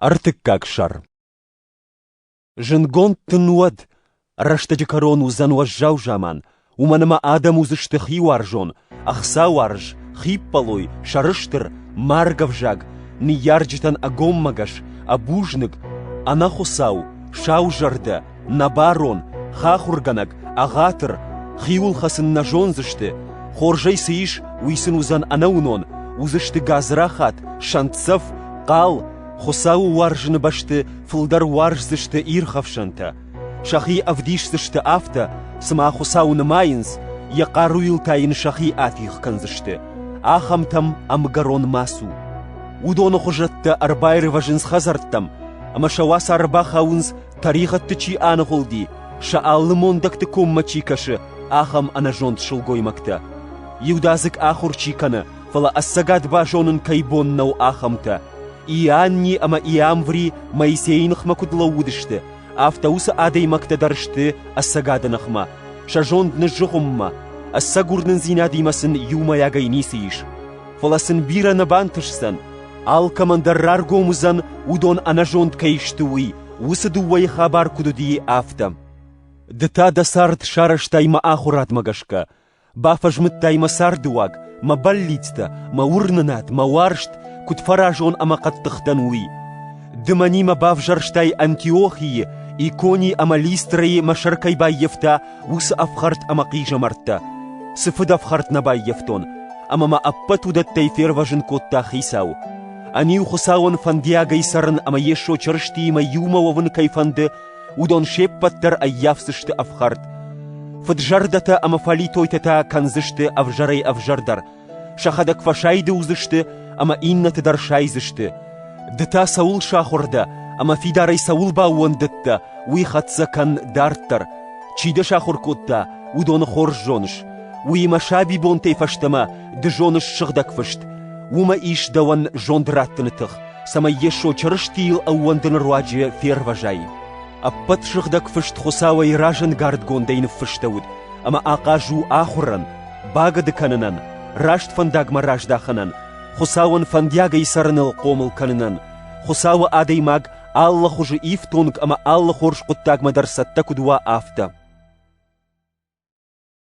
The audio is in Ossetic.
Ӕртыккаг сӕр Зындгонд дын уӕд, рӕстӕджы кӕрон уыдзӕн уӕззау заман, уымӕн ӕмӕ адӕм уыдзысты хиуарзон, ӕхцауарз, хиппӕлой, сӕрыстыр, маргӕвзаг, ныййарджытӕн ӕгоммӕгӕс, ӕбузныг, ӕнӕхуыцау, саузӕрдӕ, Нӕ барон, хахуыргӕнӕг, ӕгъатыр, хиуылхӕцын нӕ зондзысты, хорзӕй цы ис, уый сын уыдзӕн ӕнӕуынон, уыдзысты гадзрахат, сӕнтдзӕф, хъал, Хуыцауы уарзыны бӕсты фылдӕр уарздзысты ирхӕфсӕнтӕ. Сӕхи ӕвдисдзысты афтӕ, цыма Хуыцау нымайынц, йӕ хъаруйыл та йын сӕхи атигъ кӕндзысты. Ахӕмтӕм ӕмгӕрон ма цу. Уыдоны хуызӕттӕ ӕрбаирвӕзынц хӕдзӕрттӕм, ӕмӕ сӕ уацары бахауынц тӕригъӕдты чи аныгъуылди, сӕ алы мондӕгты коммӕ чи кӕсы, ахӕм ӕнӕзонд сылгоймӕгтӕ. Иудадзыг ахуыр чи кӕны, фӕлӕ ӕцӕгад базонын кӕй бон нӕу ахӕмтӕ. Ианни ӕмӕ Иамври Моисейы ныхмӕ куыд лӕууыдысты, афтӕ уыцы адӕймӕгтӕ дӕр сты ӕцӕгады ныхмӕ, сӕ зонд ныззыгъуыммӕ, ӕцӕг уырнындзинадимӕ сын иумӕйагӕй ницы ис. Фӕлӕ сын бирӕ нӕ бантысдзӕн, Алкӕмӕн дӕр раргом уыдзӕн, уыдон ӕнӕзонд кӕй сты, уый, уыцы дыууӕйы хабар куыд уыди, афтӕ. Ды та дӕ цард сарӕзтай мӕ ахуырадмӕ гӕсгӕ, бафӕзмыдтай мӕ цардыуаг, мӕ бӕллицтӕ, мӕ уырнынад, мӕ уарзт, куыд фӕразон ӕмӕ хъӕддыхдӕн, уый. Ды мӕнимӕ бавзӕрстай Антиохийы, Икони ӕмӕ Листрайы мӕ сӕр кӕй баййӕфта, уыцы ӕфхӕрд ӕмӕ хъизӕмӕрттӕ, цы фыдӕфхӕрд нӕ баййӕфтон, ӕмӕ мӕ ӕппӕт уыдӕттӕй фервӕзын кодта Хицау. Ӕниу Хуыцауӕн фӕндиагӕй цӕрын ӕмӕ Йесо Чырыстиимӕ иумӕ уӕвын кӕй фӕнды, уыдон се ппӕт дӕр ӕййафдзысты ӕфхӕрд. Фыд зӕрдӕтӕ ӕмӕ фӕлитойтӕ та кӕндзысты ӕвзӕрӕй-ӕвзӕрдӕр, Сӕхӕдӕг фӕсайды уыдзысты ӕмӕ иннӕты дӕр сайдзысты. Ды та цӕуыл сахуыр дӕ ӕмӕ фидарӕй цӕуыл баууӕндыдтӕ, уый хӕццӕ кӕн дарддӕр. Чи дӕ сахуыр кодта, уыдоны хорз зоныс. Уыимӕ сабибонтӕй фӕстӕмӕ ды зоныс сыгъдӕг фыст. Уымӕ ис дӕуӕн зонд раттыны тых, цӕмӕй Йесо Чырыстийыл ӕууӕндыны руаджы фервӕзай. Ӕппӕт сыгъдӕг фыст Хуыцауӕй разӕнгардгондӕй ныффыстӕуыд, ӕмӕ ахъаз у ахуырӕн, Багъӕды кӕнынӕн, раст фӕндагмӕ раздахынӕн, Хуыцауӕн фӕндиагӕй цӕрыныл хъомыл кӕнынӕн, Хуыцауы адӕймаг алы хуызы ифтонг ӕмӕ алы хорз хъуыддагмӕ дӕр цӕттӕ куыд уа, афтӕ.